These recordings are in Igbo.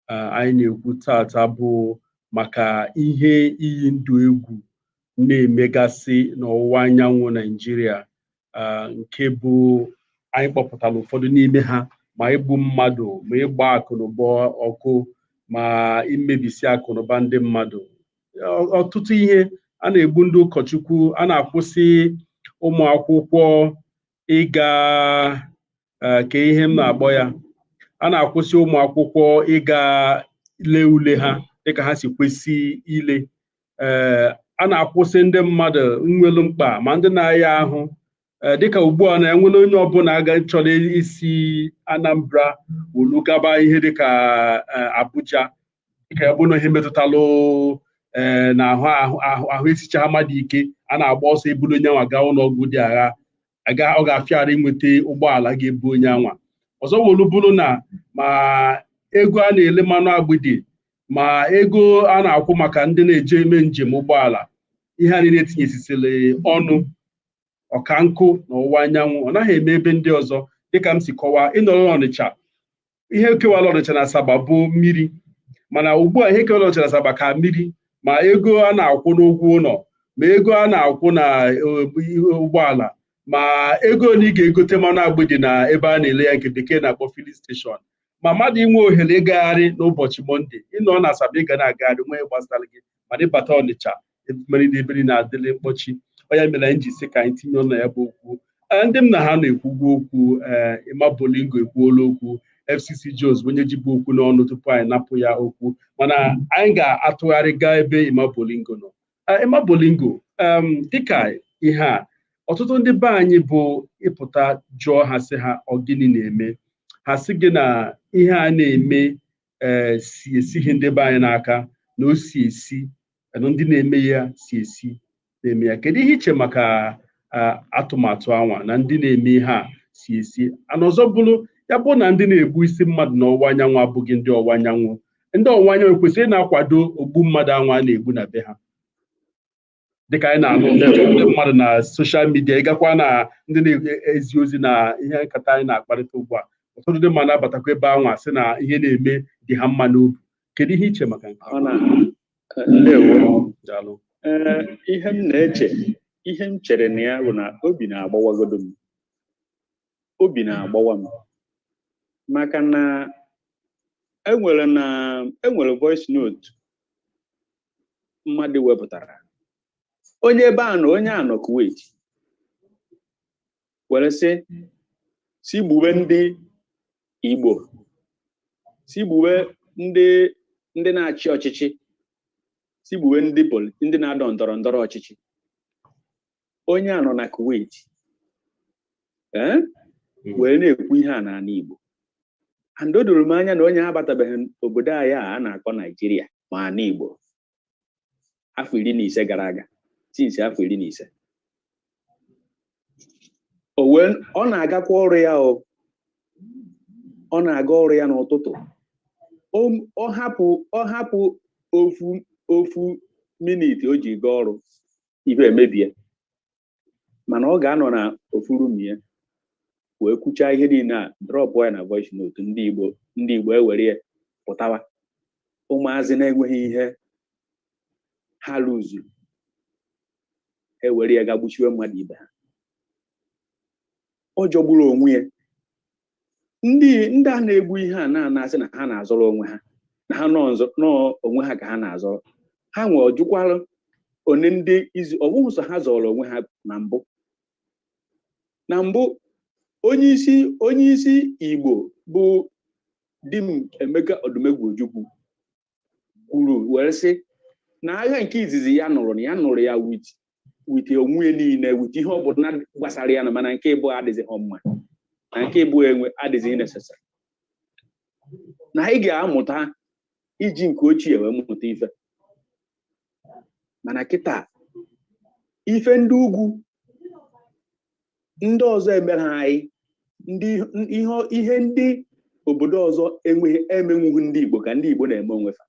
anyị na-ekwu taata bụ maka ihe iyi ndụ egwu na-emegasị n'ọwụwa anyanwụ Naijiria nke bụ anyị kpọpụtara ụfọdụ n'ime ha ma igbu mmadụ ma ịgba akụnụba ọkụ ma imebisi akụnụba ndị mmadụ ọtụtụ ihe a na-egbu ndị ụkọchukwu a na-akwụsị ụmụ akwụkwọ ịga eh, kee ihe m na-akpọ ya a na-akwụsị ụmụ akwụkwọ ịga lee ule ha dịka ha si kwesị ile ee eh, a na-akwụsị ndị mmadụ nwelu mkpa ma ndị na-aya ahụ eh, dịka ugbu a na e nwere onye ọbụla aga chọrọ isi Anambra wolu gaba ihe dịka Abuja dịka ya bụrụ na ihe metụtalụ ee na ahụ esichaghị mmadụ ike a na-agba ọsọ ebulu onye anwa gaa ụlọ ọgwụ dị agha aga ọ ga-afịa arụ inweta ụgbọala ga-ebu onye anwa ọzọ wolu bụrụ na ma ego a na-ele mmanụ agbidi ma ego a na-akwụ maka ndị na-eji eme njem ụgbọala ihe a niile tinyesisịrị ọnụ ọka nkụ na ọwụwa anyanwụ ọ naghị eme ebe ndị ọzọ dịka m si kọwaa ị nọrọ n'Ọnịcha ihe kewala ọnịcha na asaba bụ mmiri mana ugbu a ihe kewala ọnịcha na asaba ka mmiri ma ego a na-akwụ n'ụgwọ ụlọ ma ego a na-akwụ na ụgbọala ma ego na ị ga-egote mmanụ agbidi na ebe a na-ele ya nke bekee na-akpọ filling station ma mmadụ inwe ohere ịgagharị n'ụbọchị mọnde ị nọ na asaba ị ga na-agagharị nwee gbasara gị mana ị bata ọnịcha ị mara na ebe niile adịla mkpọchi ọ ya mere anyị ji sị ka anyị tinye ọnụ na ya bụ okwu Ee, ndị m na ha nọ ekwugwo okwu ee Emma Bolingo ekwuola okwu FCC Jones bụ onye jibu okwu n'ọnụ tupu anyị napụ ya okwu mana anyị ga-atụgharị gaa ebe Emma Bolingo nọ Ee, Emma Bolingo em, dịka ihe a ọtụtụ ndị be anyị bụ ị pụta jụọ ha sị ha ọ gịnị na-eme ha sị gị na ihe a na-eme ee eh, si esighị ndị be anyị n'aka na o si esi na ndị na-eme ya si esi na-eme ya kedu ihe i che maka eh, atụmatụ anwa na ndị na-eme ihe a si esi ana ọzọ bụrụ ya bụ na ndị na-egbusi mmadụ na ọwụwa anyanwụ abụghị ndị ọwụwa anyanwụ ndị ọwụwa anyanwụ kwesịrị ịna-akwado ogbu mmadụ anwa a na-egbu na be ha dịka anyị na-anụ ndị mmadụ na social media ị gakwa na ndị na-ezi ozi na ihe nkata anyị na-akparịta ugbu a ụfọdụ ndị mmadụ na-abatakwa ebe anwa sị na ihe na-eme dị ha mma n'obi kedu ihe i che maka nke ihe m na-eche ihe m chere na ya bụ na obi na-agbawagodu m obi na-agbawa m maka na enwere na enwere voice note mmadụ wepụtara onye ebe a nọ onye a nọ Kuwait were sị si gbube ndị Igbo si gbube ndị ndị na-achị ọchịchị si gbube ndị poli ndị na-adọ ndọrọ ndọrọ ọchịchị onye a nọ na Kuwait eh, hmm. wee na-ekwu ihe a n'ala Igbo and o doro m anya na onye a abatabeghị obodo anyị a a na-akpọ Naijiria ma ala Igbo afọ iri na ise gara aga since afọ iri na ise ọ na-agakwa ọrụ ya o ọ na-aga ọrụ ya n'ụtụtụ ọ hapụ ọ hapụ ofu ofu minit o ji gaa ọrụ ife emebie mana ọ ga-anọ n'ofu room ya wee kwuchaa ihe niile a drọpụ ya na voice note ndị Igbo ndị Igbo ewere ya pụtawa ụmụazị na-enweghị ihe ha lụzuru ewere ya gaa gbuchiwe mmadụ ibe ha ọ jọgburu onwe ya ndị ndị a na-egbu ihe a na- a na-asị na ha na-azọrọ onwe ha na ha nọ nzọ- nọ onwe ha ka ha na-azọrọ ha nwe ọjụkwara one ndị izu ọ bụghị sọ ha zọrọ onwe ha na mbụ na mbụ onye isi onye isi igbo bụ Dim Emeka Odumegwu Ojukwu kwuru were sị na agha nke izizi ya nụrụ na ya nụrụ ya with with onwe ya niile with ihe ọ bụla gbasara ya na mana nke ịbụa adịzịghị mma na nke ịbụa enwe adịzịghị necessary na anyị ga-amụta iji nke ochie wee mụta ife mana kịta ife ndị ugwu ndị ọzọ emerọ anyị ndị ihe ihe ndị obodo ọzọ enweghị emenwughị ndị Igbo ka ndị Igbo na-eme onwe fa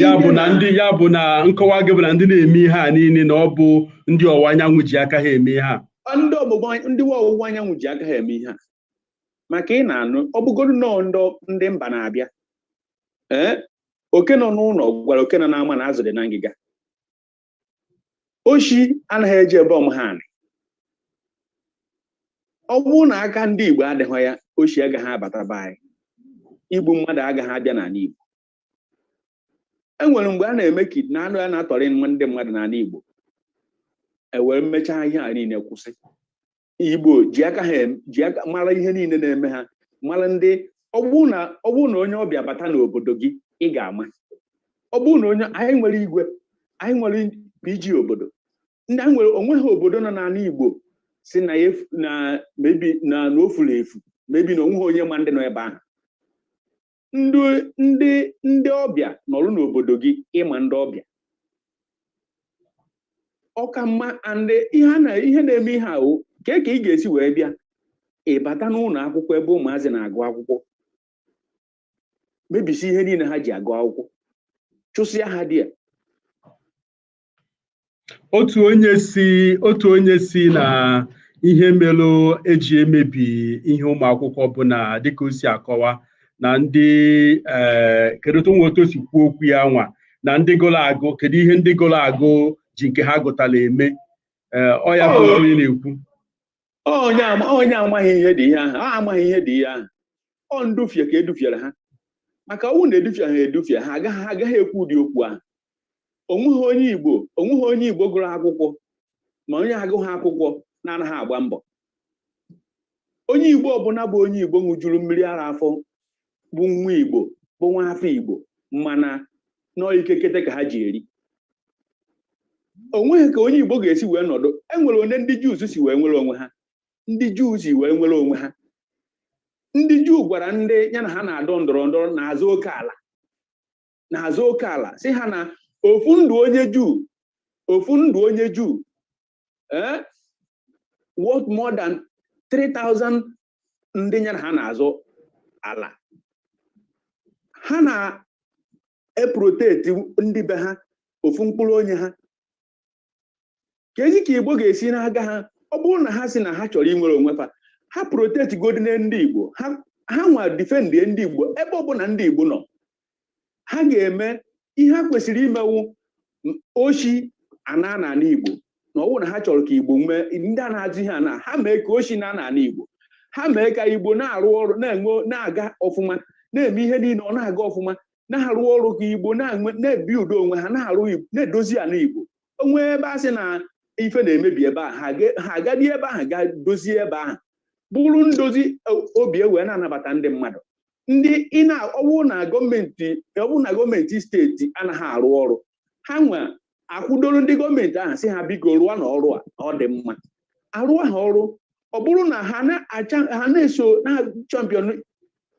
ya bụ na ndị ya bụ na nkọwa gị bụ na ndị na-eme ihe a niile na ọ bụ ndị ọwụwa anyanwụ ji aka ha eme ihe a ndị ọwụwa ndị ọwụwa anyanwụ ji aka ha eme ihe a maka ị na-anụ ọ bụgodu na ọ ndị mba na-abịa ee oke nọ n'ụlọ gwara oke nọ n'ama na azụ dị na ngịga oshi anaghị eje ebe ọ maghị anị ọ bụrụ na aka ndị Igbo adịghị ya oshi agaghị abata be anyị igbu mmadụ agaghị abịa n'ala Igbo e nwere mgbe a na-eme kid na anụ ya na-atọrị ndị mmadụ n'ala Igbo e were mechaa ihe a niile kwụsị igbo ji aka ha ji aka mara ihe niile na-eme ha mara ndị ọ bụrụ na ọ bụrụ na onye ọbịa bata n'obodo gị ị ga-ama ọ bụrụ na onye anyị nwere igwe anyị nwere PG obodo ndị anyị nwere o nweghị obodo nọ n'ala igbo sị na ya na maybe na na o furu efu maybe na o nweghị onye ma ndị nọ ebe ahụ ndị ndị ndị ọbịa nọrụ n'obodo gị ịma ndị ọbịa ọ ka mma and ihe na ihe na-eme ihe ahụ ka ka ị ga-esi wee bịa ịbata n'ụlọ akwụkwọ ebe ụmụazị na-agụ akwụkwọ mebisi ihe niile ha ji agụ akwụkwọ chụsịa ha dị ya otu onye sị otu onye sị na ihe melụ e ji emebi ihe ụmụ akwụkwọ bụ na dịka o si akọwa na ndị ee kedu otu nwa otu o si kwuo okwu ya nwa na ndị gụrụ agụ kedu ihe ndị gụrụ agụ ji nke ha gụtara eme ee ọ ya bụ Oh. onye na-ekwu onye ama- onye amaghị ihe dị ihe ahụ a amaghị ihe dị ihe ahụ ọ ndufie ka edufiere ha maka ọwụ na edufie ha edufie ha agaghị ha agaghị ekwu ụdị okwu ahụ onweghị onye igbo onweghị onye igbo gụrụ akwụkwọ ma onye agụghị akwụkwọ na-anaghị agba mbọ onye igbo ọbụla bụ onye igbo ṅụjuru mmiri ara afọ bụ nwa igbo bụ nwa afọ igbo mana n'ike kete ka ha ji eri onweghị ka onye igbo ga-esi wee nọdụ enwere onye ndị juu si wee nwere onwe ha ndị juu si wee nwere onwe ha ndị juu gwara ndị ya na ha na-adọ ndọrọ ndọrọ na-azọ oke ala na-azọ oke ala sị ha na ofu ndụ onye juu ofu ndụ onye juu eh? worth more than 3000 ndị ya na ha na-azọ ala ha na-eproteti ndị be ha ofu mkpụrụ onye ha keezi ka igbo ga-esi na-aga ha ọ bụrụ na ha sị na ha chọrọ inwere onwe fa ha proteti godinụ ndị igbo ha nwa difendie ndị igbo ebe ọbụla ndị igbo nọ ha ga-eme ihe ha kwesịrị imewu oshi ana n'ala Igbo na ọwụ na ha chọrọ ka Igbo nwee ndị a na-ajụ ihe ana ha mee ka oshi naa n'ala Igbo ha mee ka Igbo na-arụ ọrụ na-enwe na-aga ọfụma na-eme ihe niile ọ na-aga ọfụma na-arụ ọrụ ka Igbo na-ebi udo onwe ha na-arụ na-edozi ala Igbo o nwee ebe a sị na ife na-emebi ebe a ha agadi ebe ahụ ga dozie ebe ahụ bụrụ ndozi e, obi ewee na-anabata ndị mmadụ ndị ọwụ na gọọmenti ọwụ na gọọmenti steeti anaghị arụ ọrụ ha nwa akwụdoro ndị gọọmenti ahụ sị ha biko rụọnụ ọrụ a ọ dị mma arụ ahụ ọrụ ọ bụrụ na ha na-eso na-achampion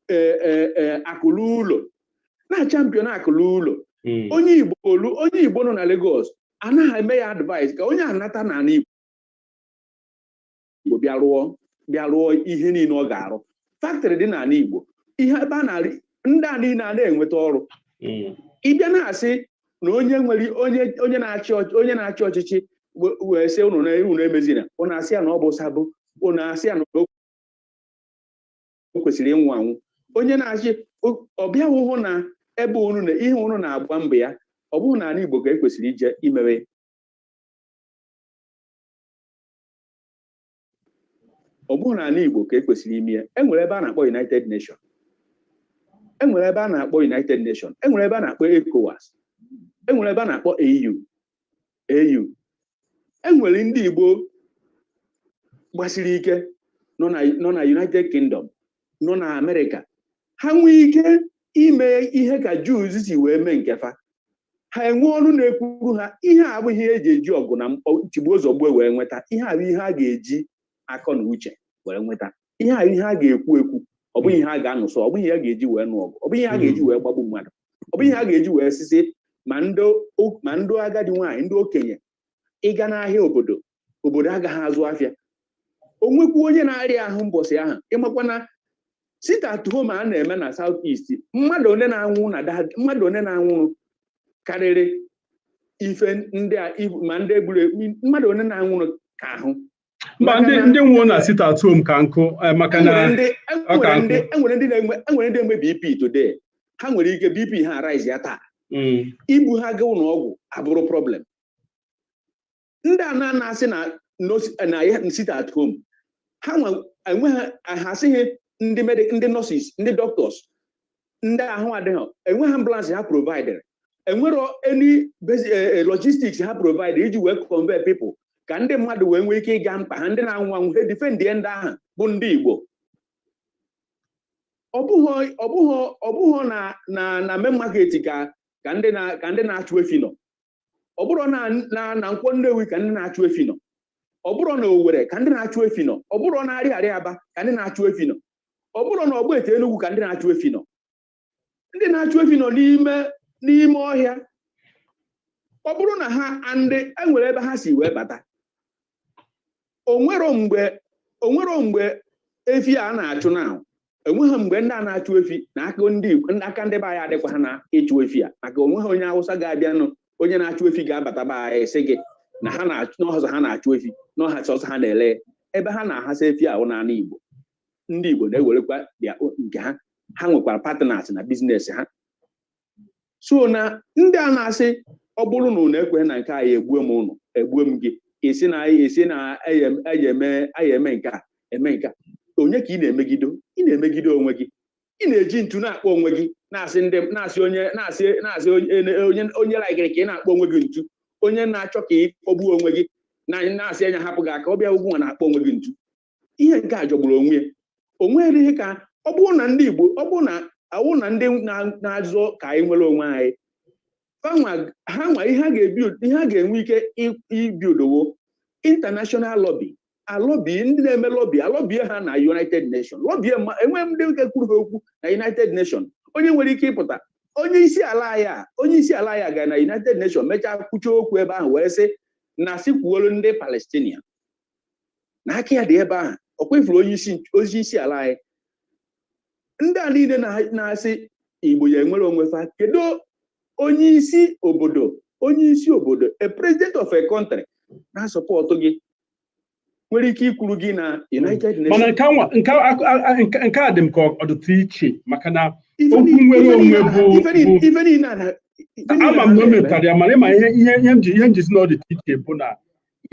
e, e, e, akụ luo ụlọ na-achampion akụ luo ụlọ hmm. onye igbo olu onye igbo nọ na Lagos anaghị eme ya advice ka onye anata n'ala igbo igbo bịa rụọ bịa rụọ ihe niile ọ ga-arụ faktrị dị n'ala igbo ihe ebe a na-arị ndị a niile a na-enweta ọrụ hmm. ịbịa na-asị na onye nwere onye na-achị onye na-achị ọchịchị wee sị ụnụ na unu emezina ụnụ asị ya na ọ bụ sabo ụnụ asị ya na o kwesịrị ịnwụ anwụ onye na-achị ọ bịa hụ na ebe unu na ihe unu na-agba mbọ ya ọ bụghị n'ala Igbo ka ekwesịrị ije imewe ọ bụrọ n'ala Igbo ka e kwesịrị ime ya enwere ebe a na-akpọ United Nation enwere ebe a na-akpọ United Nation enwere ebe a na-akpọ ECOWAS enwere ebe a na-akpọ AU AU enwere ndị Igbo gbasiri ike nọ na United Kingdom nọ na Amerịka ha nwee ike ime ihe ka Jews si wee mee nkefa ha enwe ọnụ na-ekwuru ha ihe a abụghị ihe eji eji ọgụ na mgba tigbuo zọgbuo wee nweta ihe a bụ ihe a ga-eji akọ na uche wee nweta ihe a ihe a ga-ekwu ekwu ọ bụghị ihe a ga-anụsọ ọ bụghị ihe a ga-eji wee nụ ọgụ ọ bụghị ihe a ga-eji wee gbagbu mmadụ ọ bụghị ihe a ga-eji wee sị sị ma ndị o- ma ndị agadi nwaanyị ndị okenye ịga n'ahịa obodo obodo agaghị azụ afịa o nwekwu onye na-arịa ahụ mbọsị ahụ ịmakwa na sit at home a na-eme na South East mmadụ one na-anwụ na mmadụ one na-anwụrụ karịrị ife ndị a ma ndị egburu mmadụ one na-anwụrụ ka ahụ mba ndị ndị nwụọ na sit at home ka nkụ eh, maka na enwere ndị na-enwe BP today ha nwere ike BP ha arise ya taa hmm. ibu ha gaa ụlọ ọgwụ abụrụ problem ndị a na-asị na na sit at home ha enweghị ha asịghị ndị ndị nọsis ndị dọktọs ndị ahụ adịghị enweghị ambulance ha providere enwero any eh, eh, logistics ha provide iji wee convey people ka ndị mmadụ wee nwee ike ịga mkpa ha ndị na-anwụ anwụ ha defend ndị ahụ bụ ndị Igbo ọ bụghị na na main market ka ndị na-achụ efi nọ ọ bụrọ na na nkwọ nnewi ka ndị na-achụ efi nọ ọ bụrọ na owere ka ndị na-achụ efi nọ ọ bụrọ na arịarịa aba ka ndị na-achụ efi nọ ọ bụrọ na ogbete enugwu ka ndị na-achụ efi nọ ndị na-achụ efi nọ n'ime n'ime ọhịa ọ bụrụ na ha ndị enwere ebe ha si wee bata onwero mgbe onwero mgbe efi a na-achụ na enweghị mgbe ndị a na-achụ efi na aka ndị aka ndị be anyị adịkwaghị na ịchụ efi a maka onweghị onye awụsa ga-abịanụ onye na-achụ efi ga-abata be anyị sị gị na ha na sọsọ ha na-achụ efi n'ọhịa sọsọ ha na-ele ebe ha na-ahasa efi ahụ n'ala Igbo ndị Igbo na-ewerekwa bịa nke ha ha nwekwara patịnas na biznes ha so na ndị a na-asị ọ bụrụ na ụnụ ekweghị na nke anyị egbue m ụnụ egbue m gị esi na esi na aya eme aya eme nke a eme nke a onye ka ị na-emegido ị na-emegide onwe gị ị na-eji ntu na-akpọ onwe gị na-asị ndị na-asị onye na-asị na-asị onye onye laikiri ka ị na-akpọ onwe gị ntu onye na-achọ ka ị kpọgbuo onwe gị na na-asị anyị hapụ gị aka ọ bụ gị nwa na-akpọ onwe gị ntu ihe nke a jọgburu onwe ya o nwere ike ọ bụrụ na ndị Igbo ọ bụrụ na awụ na ndị na-azọ ka anyị nwere onwe anyị ha nwa ihe a ga-ebi ihe a ga-enwe ike ibidowo international lobby alọbi ndị na-eme lọbi alọbie ha na United Nations lọbie enwee ndị na-ekwuru ha okwu na United Nations onye nwere ike ịpụta onye isi ala ya onye isi ala ya gara na United Nations mechaa kwuchaa okwu ebe ahụ wee sị na sikwuolu ndị Palestinian na aka ya dị ebe ahụ ọ kwa ị fụrụ onye isi ala anyị ndị a niile na-asị Igbo ya enwere onwe fa kedu onye isi obodo onye isi obodo a president of a country na-asọpọtụ gị nwere ike ikwuru gị na United Nations mana nke a dị m ka ọ dịtụ iche maka na okwu nwere onwe bụ ama m na o metara ya mana ị ma ihe ihe m ji ihe m ji sị na ọ dịtụ iche bụ na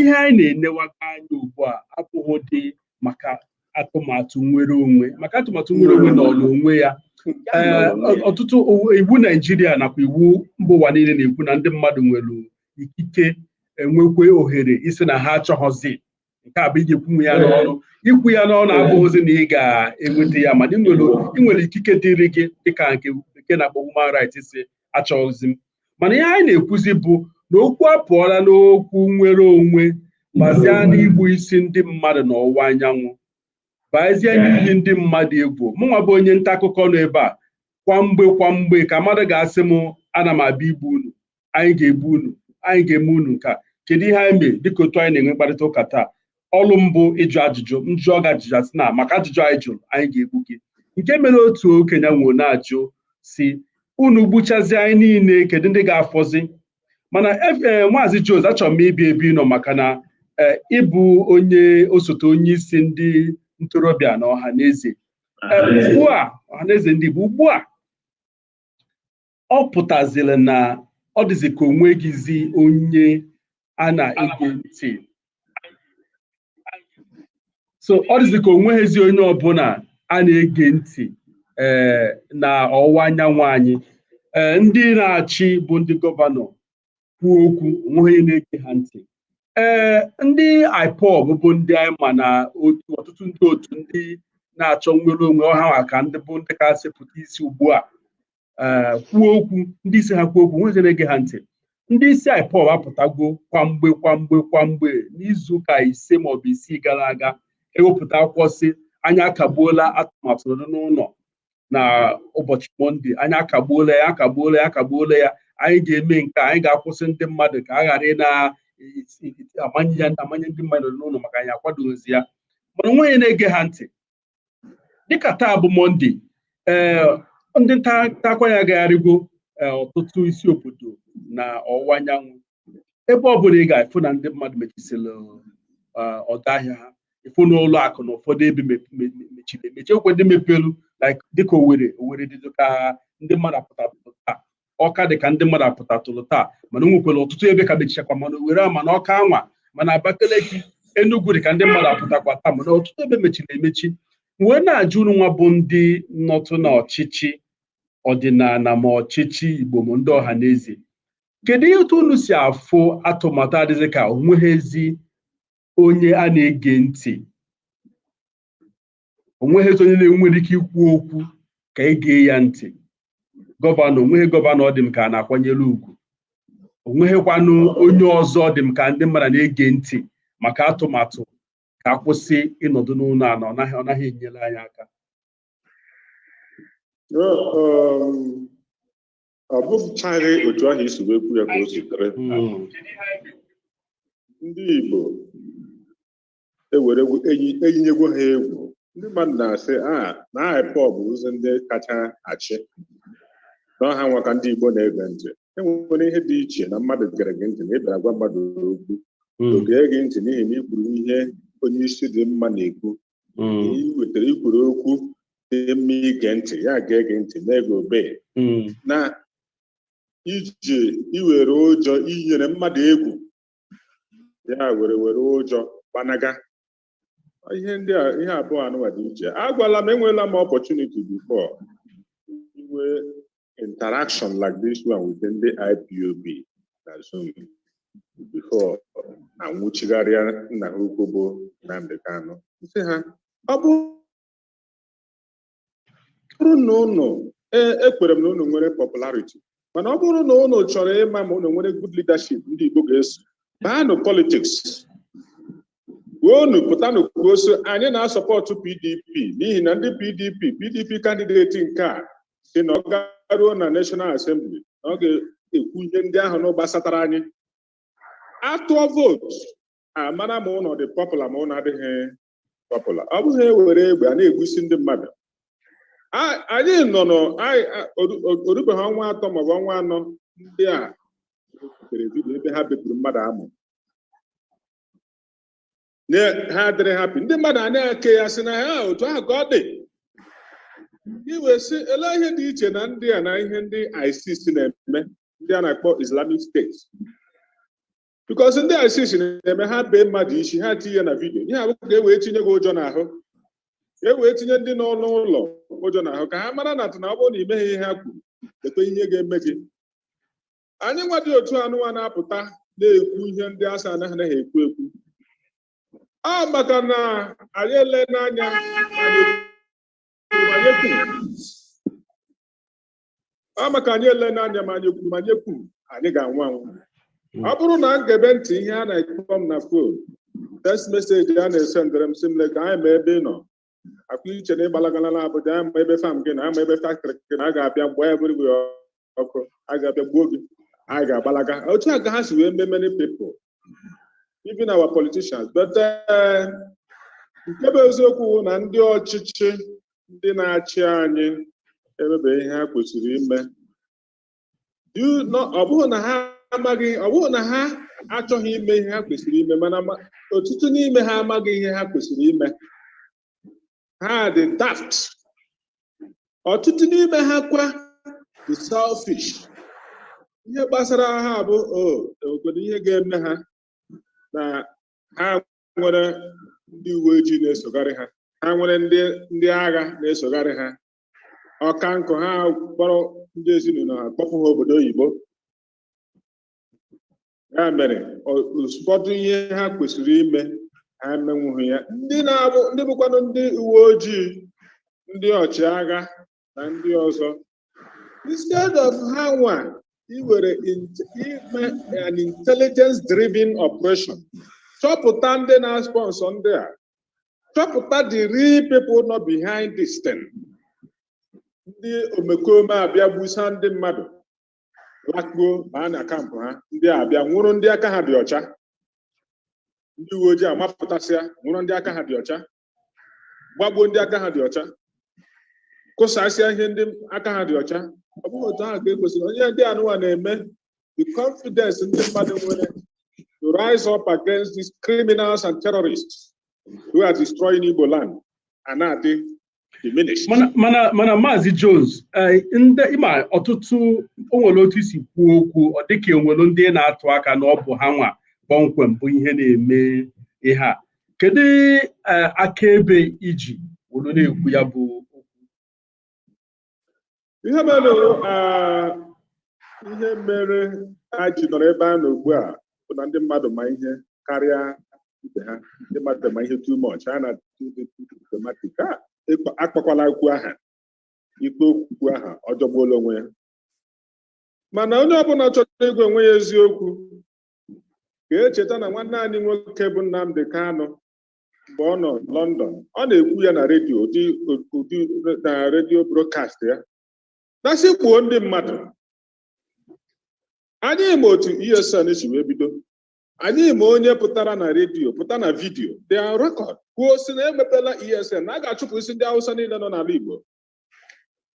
ihe anyị na-enewaka anya ugbu a abụghịdị maka atụmatụ nwere onwe maka atụmatụ nwere onwe n'onwe ya ee ọtụtụ iwu Naijiria nakwa iwu mba ụwa niile na-ekwu na ndị mmadụ nwere ikike enwekwe ohere ịsị na ha achọghịzi nke a bụ ị ga-ekwunwe ya n'ọnụ ikwu ya n'ọnụ abụghịzi na ị ga-enweta ya mana ị nwere ikike dịrị gị dịka nke a na-akpọ human rights ịsị achọghịzi m mana ihe anyị na-ekwuzi bụ na okwu apụọla n'okwu nwere onwe bazie n'igbusi ndị mmadụ n'ọwụwa anyanwụ bazie n'iyi ndị mmadụ egwu mụnwa bụ onye nta akụkọ nọ ebe a kwa mgbe kwa mgbe ka mmadụ ga-asị m ana m abịa igbu unu anyị ga-egbu unu anyị ga-eme unu nke a kedu ihe anyị mee dịka otu anyị na-enwe mkparịta ụka taa ọrụ m bụ ịjụ ajụjụ m jụọ gị ajụjụ a sị na maka ajụjụ anyị jụrụ anyị ga-egbu gị nke mere otu okenye nọrọ na-ajụ sị unu gbuchazie anyị niile kedu ndị ga-afọzi mana ee maazị Jones achọrọ m ịbịa ebe ị nọ maka na ee ịbụ onye osote onye isi ndị ntorobịa na Ọhanaeze ugbu a Ọhanaeze ndị Igbo ugbu a ọ pụtaziri na ọ dịzi ka onweghịzi onye a na-ege ntị so ọ dịzi ka onweghịzi onye ọbụla a na-ege ntị ee eh, na ọwụwa anyanwụ anyị ee eh, ndị na-achị bụ ndị gọvanọ kwuo okwu onweghị onye na-ege ha ntị ee eh, ndị IPOB bụ ndị anyị ma na otu ọtụtụ ndị otu ndị na-achọ nnwere onwe ọha maka ndị bụ ndị kasị pụta isi ugbu a eh, kwuo okwu ndị isi ha kwuo okwu nweghị na-ege ha ntị ndị isi IPOB apụtago kwamgbe kwamgbe kwamgbe n'izuụka ise maọbụ isii gara aga ewepụta akwụkwọ sị anyị akagbuola atụmatụ nọdụ n'ụlọ na ụbọchị mọnde anyị akagbuola ya akagbuola ya akagbuola ya anyị ga-eme nke a, anyị ga-akwụsị ndị mmadụ ka a ghara ị na-amanye ya amanye ndị mmadụ nọdụ n'ụlọ maka anyị akwadoghịzi ya mana onweghị onye na-ege ha ntị dịka taa bụ mọnde ee eh, ndị nta akụkọ anyị agagharịgo eh, ọtụtụ isi obodo na ọwụwa anyanwụ ebe ọ bụla ị ga ị fụ na ndị mmadụ mechisịrị eh, ọdọ ahịa ha ị fụ na ụlọ akụ na ụfọdụ ebe mechiri emechi enwekwa ndị mepelụ dịka Owerri Owerri dịdụ ka ndị mmadụ apụta taa Ọka dị ka ndị mmadụ apụtatụrụ taa mana o nwekwara ọtụtụ ebe ka mechichakwa ma na Owerri ma na Ọka anwa ma na Abakaliki Enugu dị ka ndị mmadụ apụtakwa taa mana ọtụtụ ebe mechiri emechi wee na-ajụ unu nwa bụ ndị nọtụ na ọchịchị ọdịnala ma ọchịchị Igbo ma ndị ọha na eze kedu ihe otu unu si afụ atụmatụ a dịdụ ka onweghịzi onye a na-ege ntị onweghịzi onye na-enwere ike ikwu okwu ka e gee ya ntị gọvanọ onweghị gọvanọ ọ dị m ka a na-akwanyere ugwu onweghịkwanụ onye ọzọ ọ dị m ka ndị mmadụ na-ege ntị maka atụmatụ ka a kwụsị ịnọdụ n'ụlọ a na ọ naghị ọ naghị enyere anyị aka um, ọ bụchaghị otu ahụ i si wee kwuo ya ka o sitere ndị Igbo e were egwu eyi eyinyegwo ha egwu ndị mmadụ na-asị a na IPOB bụzi ndị kacha achị na ọha nwa ka ndị Igbo na-ege ntị enwere ihe dị iche na mmadụ gere gị ntị na ị bịara gwa mmadụ okwu Mm, o gee gị ntị n'ihi na i kwuru ihe onye isi dị mma na-ekwu mm, i wetara i kwuru okwu dị mma ige ntị ya gee gị ntị na-ege obee mm, na iji i were ụjọ yinyere mmadụ egwu ya were were ụjọ gbanaga ihe ndị a ihe abụọ anụwa dị iche agwala m enweela m opportunity before inwe interaction like this one with ndị IPOB na Zoom before anwụchigharịa nna ha ukwu bụ Nnamdi Kanu sị ha ọ bụ bụrụ na ụnụ ee ekwere m na ụnụ nwere popularity mana ọ bụrụ na ụnụ chọrọ ịma ma ụnụ nwere good leadership ndị Igbo ga-eso baanụ politics unu pụtanụ kwuo so anyị na-asọpọtụ PDP n'ihi na ndị PDP PDP kandideti nke a sị na ọ garuo na National Assembly na ọ ga-ekwu ihe ndị ahụ na gbasatara anyị a tụọ vootu a mara ma ụnụ dị popular ma ụnụ adịghị popular ọ bụghị ewere egbe a na-egbusi ndị mmadụ A- anyị nọ nọ anyị- a- oru- oru- orubeghị ọnwa atọ maọbụ ọnwa anọ ndị a butere vidiyo ebe ha bepụrụ mmadụ amụ Na- ha adịrị happy ndị mmadụ a na-eke ya sị na ha otu ahụ ka ọ dị i wee sị ele ihe dị iche na ndị a na ihe ndị ISIS na-eme ndị a na-akpọ Islamic State because ndị ISIS na-eme ha bee mmadụ isi ha tinye na vidio ihe a bụ ka e wee tinye gị ụjọ n'ahụ ka e wee tinye ndị nọ n'ụlọ ụjọ n'ahụ ka ha mara na atụ na ọ bụrụ na imeghị ihe ha kwuru lekwe ihe ga-eme gị anyị nwa dị otu anụwa na-apụta na-ekwu ihe ndị a sị anaghị anaghị ekwu ekwu a maka na anyị elena anya anyị kwuru, anyị kwuru. a maka anyị elena anya ma anyị kwuru ma anyị ekwuro anyị ga-anwụ anwụ ọ bụrụ na m gebe ntị ihe a na-akpọ m na phone text message a na-esendere m sị m leta anyị ma ebe ị nọ ọ kwa i che na ị gbalagala na Abuja anyị ma ebe farm gị nọ anyị ma ebe factory gị nọ a ga-abịa gbaa everywhere ọkụ a ga-abịa gbuo gị anyị ga-agbalaga otu a ka ha si wee mee many people even our politicians but eh, nke bụ eziokwu bụ na ndị ọchịchị ndị na-achị anyị emebe ihe ha kwesịrị ime Do you know- ọ bụghị na ha amaghị ọ bụghị na ha achọghị ime ihe ha kwesịrị ime mana ma- ọtụtụ n'ime ha amaghị ihe ha kwesịrị ime ha dị daft ọtụtụ n'ime ha kwa dị selfish ihe gbasara ha bụ o nwekwara ihe ga-eme ha na ha nwere ndị uwe ojii na-esogharị ha ha nwere ndị ndị agha na-esogharị ha ọka nkụ ha kpọrọ ndị ezinụlọ ha kpọpụ ha obodo oyibo ya mere ọ- ụfọdụ ihe ha kwesịrị ime ha emenwughị ya ndị na-abụ ndị bụkwanụ ndị uwe ojii ndị ọchịagha na ndị ọzọ instead of ha nwa iwere int- ime an intelligence driven operation chọpụta ndị na-sponsor ndị a chọpụta the real people nọ behind this thing ndị omekome abịa gbusa ndị mmadụ lakpuo baa na camp ha ndị a bịa nwụrụ ndị aka ha dị ọcha ndị uwe ojii amapụtasịa nwụrụ ndị aka ha dị ọcha gbagbuo ndị aka ha dị ọcha kụsasịa ihe ndị aka ha dị ọcha ọ bụghị otu ahụ ka e kwesịrị ọ ihe ndị anụwa na-eme the confidence ndị mmadụ nwere to rise up against these criminals and terrorists who are destroying Igbo land and na-adị diminished. mana mana mana maazị jones eh, ndị ị ma ọtụtụ o nwere otu i si kwuo okwu ọ dịka enwere ndị ị na-atụ aka na ọ bụ ha nwa kpọmkwem bụ ihe na-eme ihe a kedu eh, akaebe i ji were na-ekwu ya bụ okwu ihe mere ihe mere a ji nọrọ ebe a nọ ugbu a bụ na ndị mmadụ ma ihe karịa ibe ha ndị mmadụ ma ihe too much ha na diplomatic a akpakwala okwu aha ikpe okwu aha ọ jọgbuola onwe ya mana onye ọbụla chọrọ ịgwa onwe ya eziokwu ga-echeta na nwanne anyị nwoke bụ Nnamdi Kanu mgbe ọ nọ London ọ na-ekwu ya na redio ụdị ụdị na redio broadcast ya na-asị gbuo ndị mmadụ anyị ma otu ESN si wee bido anyị ma onye pụtara na redio pụta na vidiyo dị record kwuo sị na emepela ESN na a ga-achụpụsị ndị Hausa niile nọ n'ala Igbo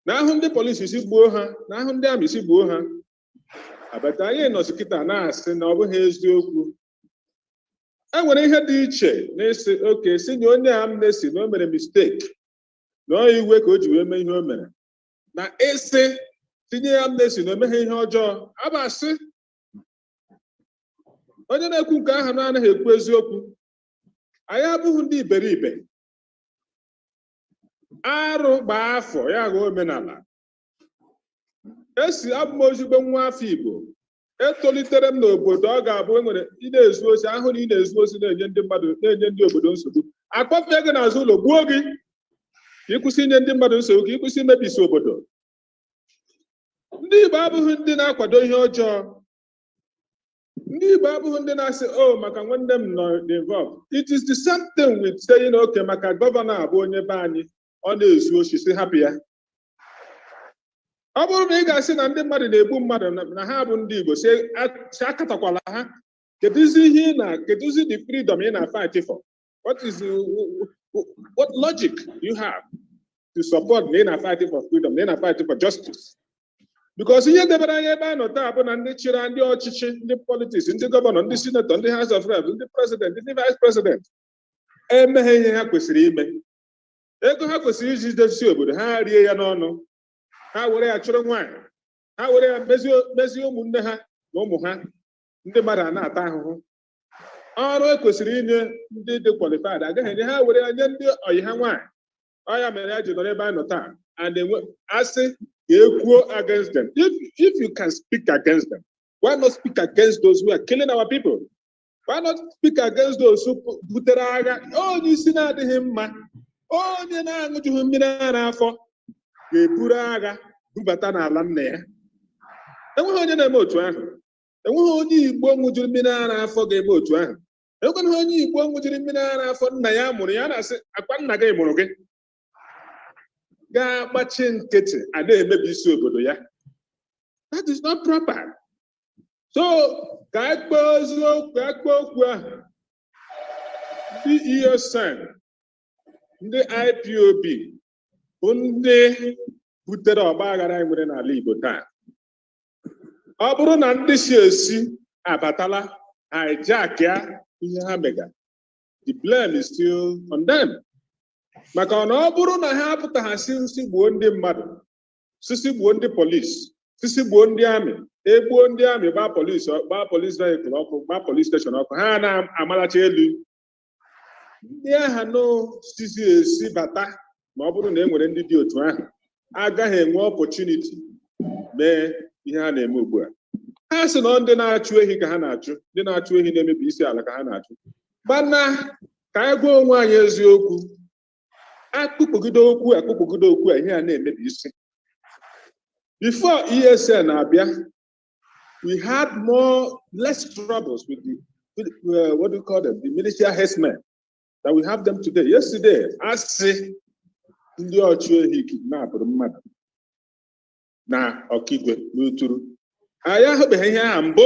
na a hụ ndị polisi sị gbuo ha na a hụ ndị amị sị gbuo ha abata anyị nọzi kịta na-asị na ọ bụghị eziokwu e nwere ihe dị iche n'ịsị okay sị nye onye amnesty na o mere mistake na ọ iwe ka o ji wee mee ihe o mere na ịsị sị nye ya amnesty na o meghị ihe ọjọọ abasị onye na-ekwu nke ahụ na-anaghị ekwu eziokwu anyị abụghị ndị iberibe arụ gbaa afọ ya ghọọ omenala esi abụ m ezigbo nwa afọ Igbo etolitere m n'obodo ọ ga-abụ enwere ị na-ezu oshi a hụ na ị na-ezu oshi na-enye ndị mmadụ na-enye ndị obodo nsogbu a kpọfee gị n'azụ ụlọ gbuo gị ka ị kwụsị inye ndị mmadụ nsogbu ka ị kwụsị imebisi obodo ndị Igbo abụghị ndị na-akwado ihe ọjọọ ndị Igbo abụghị ndị na-asị o oh, maka nwanne m nọ involved it is the same thing with saying okay maka gọvanọ abụ onye be anyị ọ na-ezu oshi sị hapụ ya ọ bụrụ na ị ga-asị na ndị mmadụ na-egbu mmadụ na ha bụ ndị Igbo sị akatọkwala ha kedụzi ihe ị na kedụzi the freedom ị na-fight for what is what logic you have to support na ị na-fight for freedom na ị na-fight for justice because ihe debere anyị ebe a nọ taa bụ na ndị chịrị ndị ọchịchị ndị politics ndị gọvanọ ndị sinetọ ndị house of reps ndị president ndị vice president emeghị ihe ha kwesịrị ime ego ha kwesịrị iji dozie obodo ha rie ya n'ọnụ ha were ya chụrụ nwaanyị ha were ya mezie mezie ụmụnne ha na ụmụ ha ndị mmadụ a na-ata ahụhụ ọrụ ekwesịrị inye ndị dị qualified agaghị enye ha were ya nye ndị ọyị ha nwaanyị ọ ya mere anyị ji nọrọ ebe a nọ taa and enwe a sị ka e kwuo against them if, if you can speak against them why not speak against those who are killing our people Why not speak against those who pu- butere agha? Onye isi na-adịghị mma, onye na-aṅụjughị mmiri ara afọ ga-eburu agha bubata n'ala nna ya. Enweghị onye na-eme otu ahụ. Enweghị onye Igbo ṅụjuru mmiri ara afọ ga-eme otu ahụ. Enwekwana onye Igbo ṅụjuru mmiri ara afọ nna ya mụrụ ya na-asị akwa nna gị mụrụ gị. ga-agbachi nkịtị a na-emebi isi obodo ya that is not proper so ka anyị kpee eziokwu ka anyị kpee okwu ahụ ndị ESN ndị IPOB bụ ndị butere ọgba aghara anyị nwere n'ala Igbo taa ọ bụrụ na ndị si ezi abatala hijack ya ihe ha mega the blame is still on them maka na ọ bụrụ na ha apụtaghị sị sị gbuo ndị mmadụ sị sị gbuo ndị police sị sị gbuo ndị army egbuo ndị army gbaa police gbaa police vehicle ọkụ gbaa police station ọkụ ha na-amalacha elu ndị aha unu sị si ezi bata ma ọ bụrụ na e nwere ndị dị otu ahụ agaghị enwe opportunity mee ihe ha na-eme ugbu a ha sị na ndị na-achụ ehi ka ha na-achụ ndị na-achụ ehi na-emebi isi ala ka ha na-achụ mana ka anyị gwa onwe anyị eziokwu akpụkpọgide okwu akpụkpọgide okwu a ihe a na-emebi isi before ESN abịa we had more less troubles with the with, uh, what do you call them the militia herdsmen than we have them today yesterday a sị ndị ọchụ ehi kidnapụrụ mmadụ na Okigwe n'Uturu anyị ahụbeghị ihe aha mbụ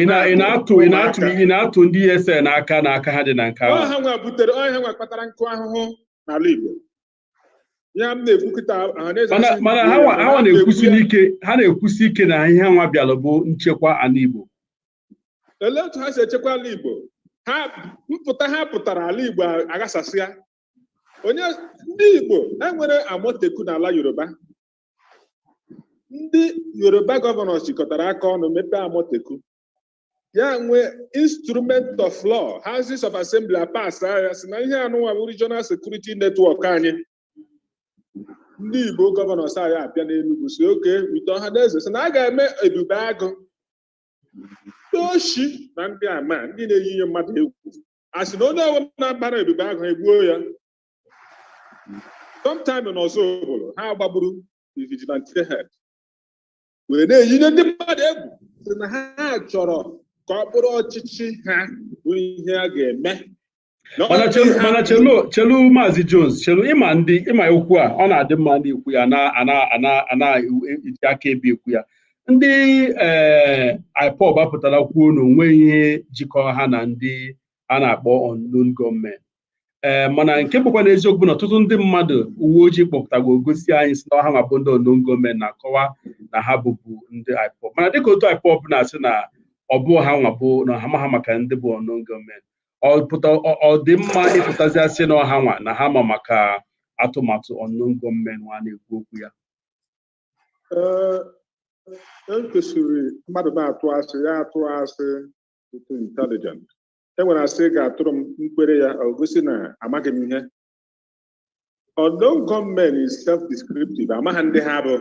ị na- ị na-atụ ị na-atụ ị na-atụ ndị ESN aka na aka ha dị na nke ahụ ọ ha nwa butere ọ ha nwa kpatara nkụ ahụhụ n'ala Igbo ya m na-ekwu kịta ọhaneze mana asị mana ndị ha nwa ha nwa na-ekwusi na-ekwu ya. n'ike ha na-ekwusi ike na ihe ha nwa bịalụ bụ nchekwa ala Igbo olee otu ha si echekwa ala Igbo ha mpụta ha pụtara ala Igbo aghasasịa onye ndị Igbo e nwere Amotekun n'ala Yoruba ndị yoruba governors jikọtara aka ọnụ mepee Amotekun ya nwee instrument of law houses of assembly apass ya sị na ihe anụnwa bụ regional security network anyị ndị igbo governors anyị abịa n'enugwu sị okay with Ọhaneze sị na a ga-eme ebube agụ ndị oshi na ndị ama ndị na-eyi ndị mmadụ egwu a sị na onye ọbụla na-agbara ebube agụ egbuo ya sometime na Ozubulu ha gbagburu the vigilante head wee na-eyi ndị mmadụ egwu sị na ha chọrọ ka ọ bụrụ ọchịchị ha bụ ihe a ga-eme Na ọ mana bụ chelu ihe mana ha- chelu chelu maazị jones chelu ịma ndị ịma okwu a ọ na-adị mma ndị ikwu ya ana ana ana ana eji akaebe ekwu ya ndị ee ipob apụtala kwuo na onweghị ihe jikọ ha na ndị a na-akpọ unknown gunmen ee eh, mana nke bụkwanụ eziokwu bụ na ọtụtụ ndị mmadụ uwe ojii kpọpụtagwo gosi anyị sị na ọ ha nwa bụ ndị unknown gunmen na-akọwa na ha bụbu ndị IPOB mana dịka otu IPOB na-asị na ọ bụ ha nwa bụ na ha amaha maka ndị bụ unknown gunmen ọ dị mma ịpụtazi asị na ọ ha nwa na ha ma maka atụmatụ unknown gunmen nwa na-ekwu okwu ya eh, ekwesịrị mmadụ na-atụ asị ya atụọ asị too intelligent e nwere asị ị ga-atụrụ m m kwere ya o gosi na amaghị m ihe unknown gunmen is self-descriptive amaghị ndị ha bụ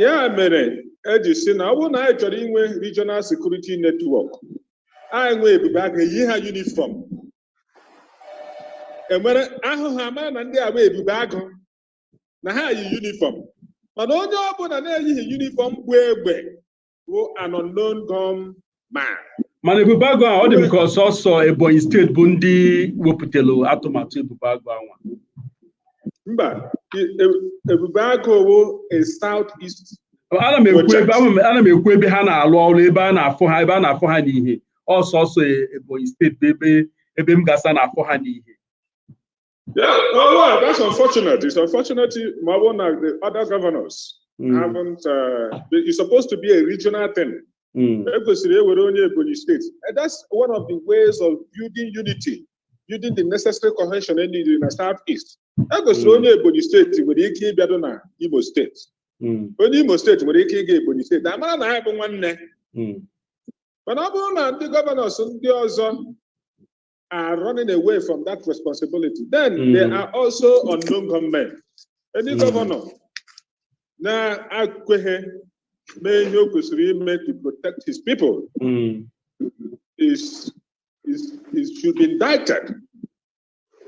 ya mere eji si na ọ bụrụ na anyị chọrọ inwe regional security network anyị nwee ebube agụ eyi ha uniform enwere a hụ ha a mara na ndị a bụ ebube agụ na ha yi uniform mana onye ọbụla na-eyighị uniform bu egbe bụ an unknown gun man. mana ebube agụ a ọ dị m ka ọ sọsọ ebonyi steeti bụ ndị wepụtara atụmatụ ebube agụ a nwa Mba, e- e- Ebube Agụ bụ a South East. ana m ekwu ebe ama m- ana m ekwu ebe ha na-alụ ọrụ ebe a na-afụ ha ebe a na-afụ ha n'ihe ọ sọsọ e- ebonyi steeti bụ ebe ebe m gasa na-afụ ha n'ihe Yeah, oh, well, that's unfortunate. It's unfortunate, ma ọ bụrụ na the other governors mm. haven't. Uh, it's supposed to be a regional thing. Mm. And that's one of the ways of building unity, building the necessary cohesion in the Southeast. Ekwesịrị hmm. onye Ebonyi steeti nwere ike ịbịado na Imo steeti. Hmm. Onye Imo steeti nwere ike ịga Ebonyi steeti. A mara na ha bụ nwanne. Hmm. Mana ọ bụrụ na ndị gọvanọs ndị ọzọ are running away from that responsibility. Then mm. they are also unknown gunmen. Any mm. governor na-akweghị mee ihe o kwesịrị ime to protect his people mm. is, is, is should be indicted.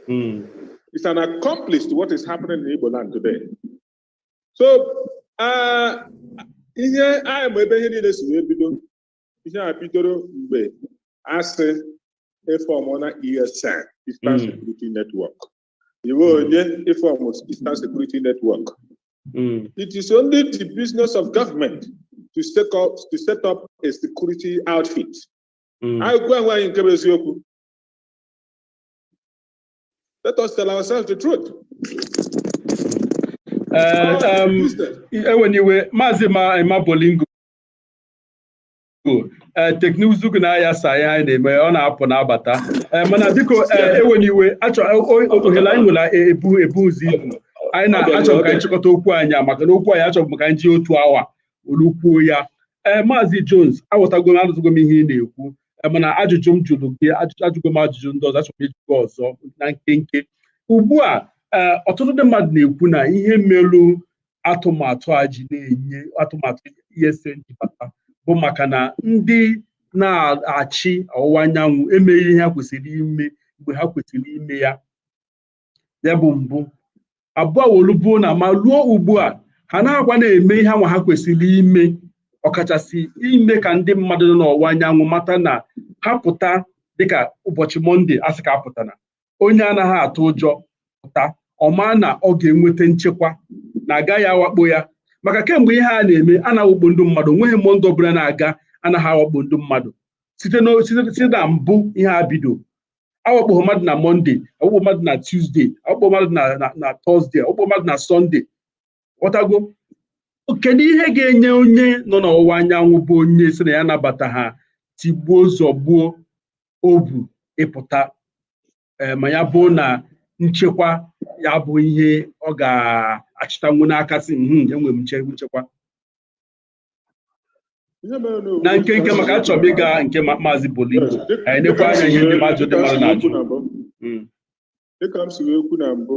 Mm. He's an accomplice to what is happening in Igbo land today. So uh, ihe anyị ma ebe ihe niile si wee bido ihe a bidoro mgbe asị ịfọmụna ESN Eastern Mm. Security Network iwe onye ịfọmụ Eastern Security Network Mm. it is only the business of government to set up to set up a security outfit Mm. anyị gwa onwe anyị nke bụ eziokwu let us tell ourselves the truth Eh, em, enwena iwe maazị Ema Bolingo ee teknụzụ gị na-aghasa ihe anyị na-eme ọ na-apụ na-abata ee mana biko ee enwena iwe achọ ohere anyị nwere ebu ebuzirọ ibu anyị na-achọ ka anyị chịkọta okwu anyị a maka na okwu anyị achọghị m ka anyị ji otu awa olukwuo ya ee maazị Jones aghọtago m anụzugo m ihe ị na-ekwu mana ajụjụ m jụrụ gị ajụgo m ajụjụ ndị ọzọ achọrọ m ịjụ gị ọzọ na nkenke ugbu a ọtụtụ ndị mmadụ na-ekwu na ihe melu atụmatụ a ji na-enye atụmatụ ESN ji bata bụ maka na ndị na-achị ọwụwa anyanwụ emeghị ihe ha kwesịrị ime mgbe ha kwesịrị ime ya ya bụ mbụ abụọ wolubuo na ma ruo ugbu a ha na-agwa na-eme ihe anwa ha kwesịrị ime ọkachasị ime ka ndị mmadụ nọ n'ọwụwa anyanwụ mata na ha pụta dịka ụbọchị mọnde asị ka apụtana onye anaghị atụ ụjọ pụta ọ ma na ọ ga-enweta nchekwa na agaghị awakpo ya maka kemgbe ihe a na-eme a na-awakpo ndị mmadụ nweghị mọnde ọbụla na-aga anaghị awakpo ndị mmadụ site na mbụ ihe a bido awakpo mmadụ na mọnde awakpo mmadụ na tusde awakpo mmadụ na tọzde awakpo mmadụ na sọnde ghọtago kedu ihe ga-enye onye nọ n'ọwụwa anyanwụ bụ onye sị na ya anabataghị tigbuo zọgbuo obu ịpụta eh, ma ya bụ na nchekwa ya bụ ihe ọ ga-achịtanwu n'aka sị hmm, enwere m nchekwa na nkenke maka achọrọ m ịga nke maazị Bolingo anyị nekwa anya ihe ndị mmadụ ndị mmadụ na-ajụ hmm. dịka m si wee kwu na mbụ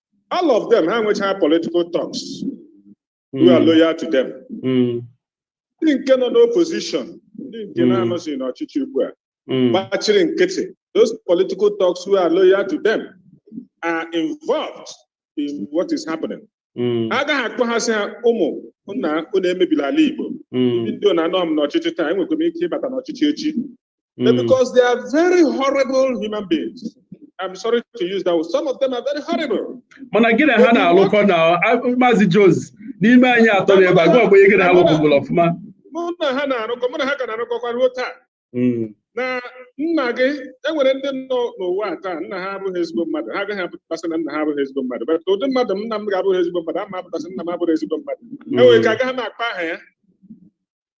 all of them ha nwechara political thugs who are loyal to them ndị nke nọ n'opposition ndị nke na-anọzi n'ọchịchị ugbu a gbachiri nkịtị those political thugs who are loyal to them are involved in what is happening agaghị akpọ ha sị ha ụmụ nna unu emebila ala Igbo n'ihi na anọ m n'ọchịchị taa enwekwa m ike ịbata n'ọchịchị echi But Mm. because they are very horrible human beings. I'm sorry to use that word. Some of them are very horrible. mana gị na ha na-alụkọ na a- maazị Jones n'ime anyị atọ nọ ebe a gịwa bụ onye gị na ha lụkọburu ọfụma Mụ na ha na-arụkọ, mụ na ha ka na-arụkọkwa ruo taa. Mm. Na nna gị, e nwere ndị nọ n'ụwa a taa, nna ha abụghị ezigbo mmadụ. Ha agaghị apụta sị na nna ha abụghị ezigbo mmadụ. But ụdị mmadụ m, nna m ga-abụghị ezigbo mmadụ, ama m apụta sị nna m abụghị ezigbo mmadụ. E nwere ike agaghị m akpọ aha ya.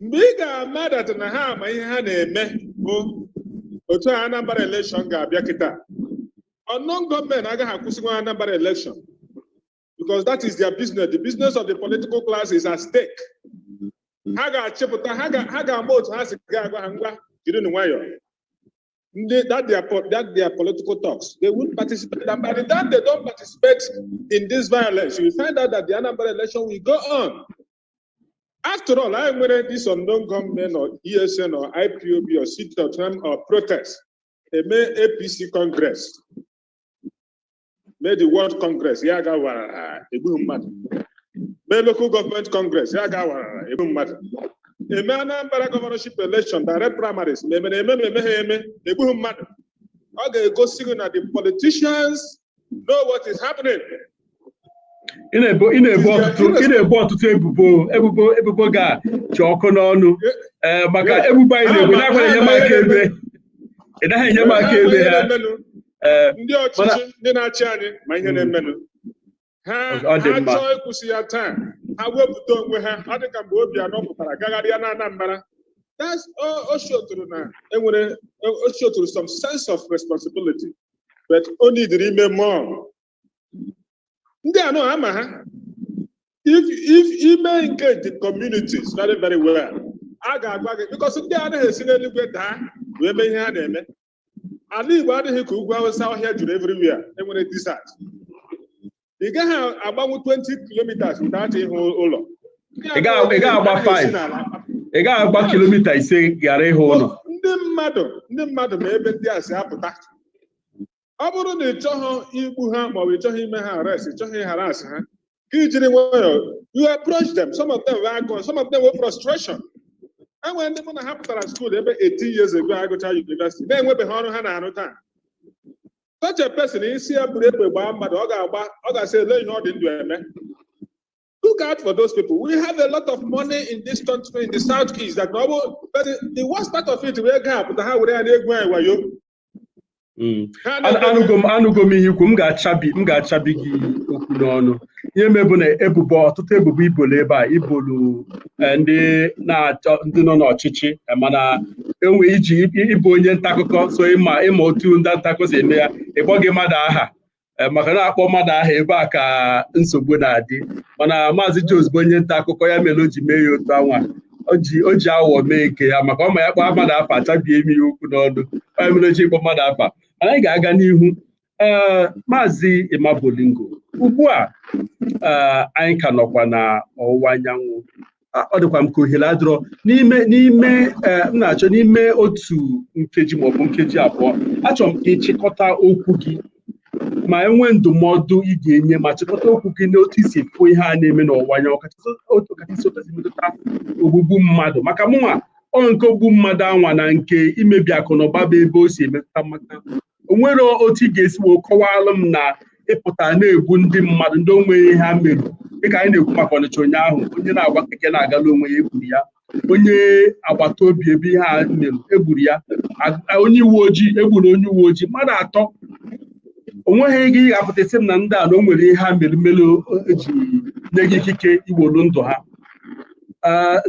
mgbe ị ga-ama dat na ha ama ihe ha na-eme bụ otu a Anambra election ga-abịa kịta unknown gunmen agaghị akwụsịnwu Anambra election because that is their business the business of the political class is at stake ha ga-achịpụta ha ga- ha ga-ama otu ha si ga-agwa ha ngwa jirinụ nwayọọ ndị that their po- that their political thugs they won't participate and by the time they don't participate in this violence you will find out that the Anambra election will go on After all, anyị nwere this unknown gunmen or ESN or IPOB or sit-at-home or protest. Eme APC Congress. Mee the Ward Congress, ya gaa warara egbu mmadụ. Mee Local Government Congress, ya gaa warara egbu mmadụ. Eme Anambra Governorship Election, direct primaries, ma emere eme ma emeghị eme, egbughị mmadụ. Ọ ga-egosi gị na the politicians know what is happening. ị na-ebo ị na-ebo ọtụtụ ị na-ebo ọtụtụ ebubo ebubo ebubo ga chị ọkụ n'ọnụ ee maka ebubo anyị na-ebo na-agwa enye m aka ebe ị naghị enye m aka ebe ha ee ndị ọchịchị ndị na-achị anyị ma ihe na-emenụ ha Ọ dị ha mma. chọọ ịkwụsị ya taa ha wepụta onwe ha ọ dị ka mgbe Obiano pụtara gagharịa na Anambra That's- o- o showtụrụ na enwere o showtụrụ some sense of responsibility but o needịrị ime more ndị a nụ a ma ha if if i mee engage the communities very very well a ga-agwa gị because ndị anaghị esi n'eluigwe daa wee mee ihe ha na-eme ala igbo adịghị ka ugwu awụsa ọhịa juru everywhere enwere desert ị gaghị agbanwu 20 kilometers without ịhụ ụlọ ị gaghị agba 5 ị gaghị agba kilomita ise ghara ịhụ ụlọ ndị mmadụ ndị mmadụ ma ebe ndị a si apụta ọ bụrụ na ị chọghị igbu ha maọbụ ị chọghị ime ha arrest ị chọghị ịharass ha ka ijiri nwayọọ you approach them some of them were agụụ some of them were frustration enwere ndị mụ na ha pụtara school ebe 18 years ago agụcha university na-enwebeghị ọrụ ha na-arụ taa such a person ị sị ya buru egbe gbaa mmadụ ọ ga-agba ọ ga-asị ele ihe ọ dị ndụ eme look out for those people we have a lot of money in this country in the south east that ọ bụ but the- the worst part of it bụ ego a pụta ha were ya na-egwu anyị wayo Mm. ha An- na-eme- anụgo m anụgo m ihe i kwu m ga-achabi m ga-achabi gị okwu n'ọnụ ihe mebụ na ebubo ọtụtụ ebubo i bolu ebe a i bolu eh, ndị na-achọ ndị nọ n'ọchịchị eh, mana enwe iji ịbụ onye nta akụkọ so ị ma ị ma otu ndị nta akụkọ si eme ya ịkpọghị mmadụ aha eh, maka na-akpọ mmadụ aha ebe a ka nsogbu na-adị mana maazị Jones bụ onye nta akụkọ ya mere o ji mee ya otu anwa o ji aghụghọ mee nke ya maka ọ ma ya kpọọ mmadụ afa achabie ime ya okwu n'ọnụ ọ ya mere o ji ịkpọ mmadụ afa mana anyị ga-aga n'ihu ee maazị Emma Bolingo ugbu a ee anyị ka nọkwa na ọwụwa anyanwụ A- ọ dịkwa m ka ohere adịrọ n'ime n'ime ee m na-achọ n'ime otu nkeji maọbụ nkeji abụọ achọrọ m ka ị chịkọta okwu gị ma enwee ndụmọdụ ị ga-enye ma chịkọta okwu gị n'otu i si fụ ihe a na-eme n'ọwụwa anyanwụ kachasị otu kachasị otu esi metụta ogbugbu mmadụ maka mụnwa ọ nke ogbu mmadụ anwa na nke imebi akụ na ụba bụ ebe o si emetụta m aka o nwere otu ị ga-esi wee kọwalụ m na ị pụta na-egbu ndị mmadụ ndị onweghị ihe ha mere dịka anyị na-ekwu maka Ọnịcha ụnyaahụ onye na-agba keke na-agala onwe ya egburu ya onye agbata obi ebe ihe a mere egburu ya onye uwe ojii egburu onye uwe ojii mmadụ atọ onweghị ị ga-apụta sị m na ndị a na o nwere ihe ha mere mere eji nye gị ikike iwolu ndụ ha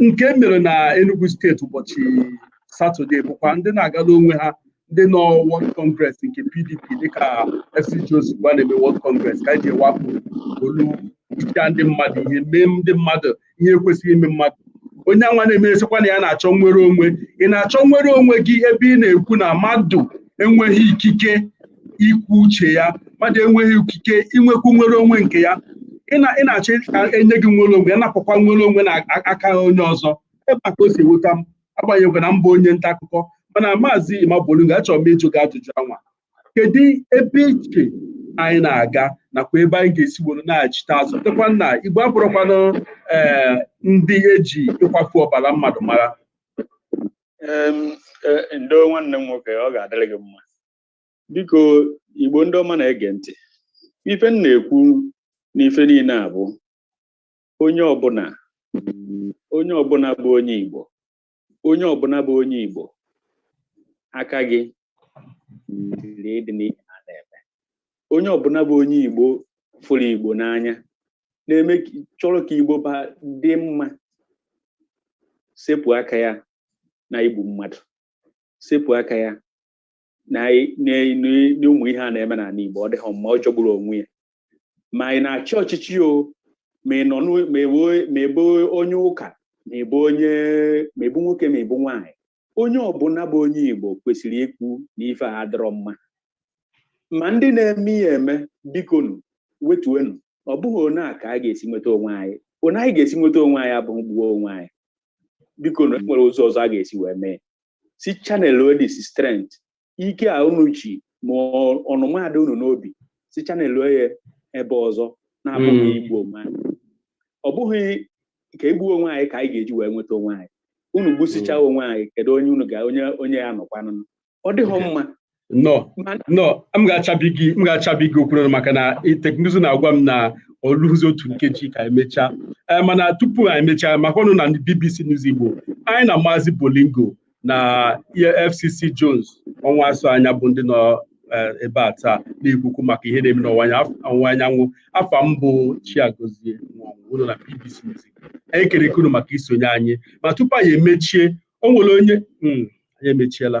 nke mere na Enugu steeti ụbọchị satọde bụkwa ndị na-agala onwe ha ndị nọ ward congress nke PDP dịka FCG ozugbo a na-eme ward congress ka eji wakpo lụchaa ndị mmadụ ihe mee ndị mmadụ ihe ekwesịghị ime mmadụ onye anwa na-eme asịkwa na ya na-achọ nnwere onwe ị na-achọ nnwere onwe gị ebe ị na-ekwu na mmadụ enweghị ikike ikwu uche ya mmadụ enweghị ikike inwekwu nnwere onwe nke ya ị na-achọ enye gị nnwere onwe napụkwa nnwere onwe na aka onye ọzọ ebe a ka o si ewuta m agbanyeghịkwa na m bụ onye nta akụkọ mana maazị Emma Bolingo achọrọ m ịjụ gị ajụjụ anwa kedu ebe i che anyị na-aga nakwa ebe anyị ga-esi were nachite azụ tekwa na igbo abụrụkwanụ eh, ndị eji ịkwafu ọbara mmadụ mara e, ndo nwanne m nwoke ọ ga-adịrị gị mma biko igbo ndị ọma na-ege ntị ife m na-ekwu n'ife niile a bụ onye ọbụla onye ọbụla bụ onye Igbo onye ọbụla bụ onye Igbo aka gị dị dị n'ihe a na-eme onye ọbụla bụ onye Igbo fụrụ Igbo n'anya na-eme chọrọ ka Igbo ba dị mma sepụ aka ya na igbu mmadụ sepụ aka ya na n'ụmụ ihe a na-eme n'ala Igbo ọ dịghị mma ọ jọgburu onwe ya ma ị na-achị ọchịchị o ma ị nọ ma ị bụ onye ụka ma ị bụ onye ma ị bụ nwoke ma ị bụ nwaanyị onye ọbụla bụ onye Igbo kwesịrị ikwu na ife a adịrọ mma ma ndị na-eme ya eme bikonu wetuenu ọ bụghị otu a ka a ga-esi nweta onwe anyị otu anyị ga-esi nweta onwe anyị abụghị gbuo onwe anyị bikonu e nwere ụzọ ọzọ a ga-esi wee mee si channel this strength ike a unu ji ma ọnụma dị unu n'obi si channel ya ebe ọzọ na-abụghị hmm. igbu onwe anyị ọ bụghị ka egbuo onwe anyị ka anyị ga-eji wee nweta onwe anyị unu gbusichaa hmm. onwe anyị kedu onye unu ga onye onye ya anọkwanụ ọ dịghị mma no no m ga-achabi gị m ga-achabi gị okwu maka na teknụzụ na-agwa m na o luzi otu nkeji ka e mechaa eh, mana tupu anyị emechaa maka ọnụ na BBC News Igbo anyị na Maazị Bolingo na FCC Jones Ọnwụasọanya bụ ndị nọ eh, ebe a taa na-ekwukwu maka ihe na-eme n'ọwụwa anyanwụ afa m bụ Chiagozie Nwonwu na BBC News Igbo anyị ekelekwa unu maka isonye anyị ma tupu anyị emechie o nwere onye hmm, anyị emechiela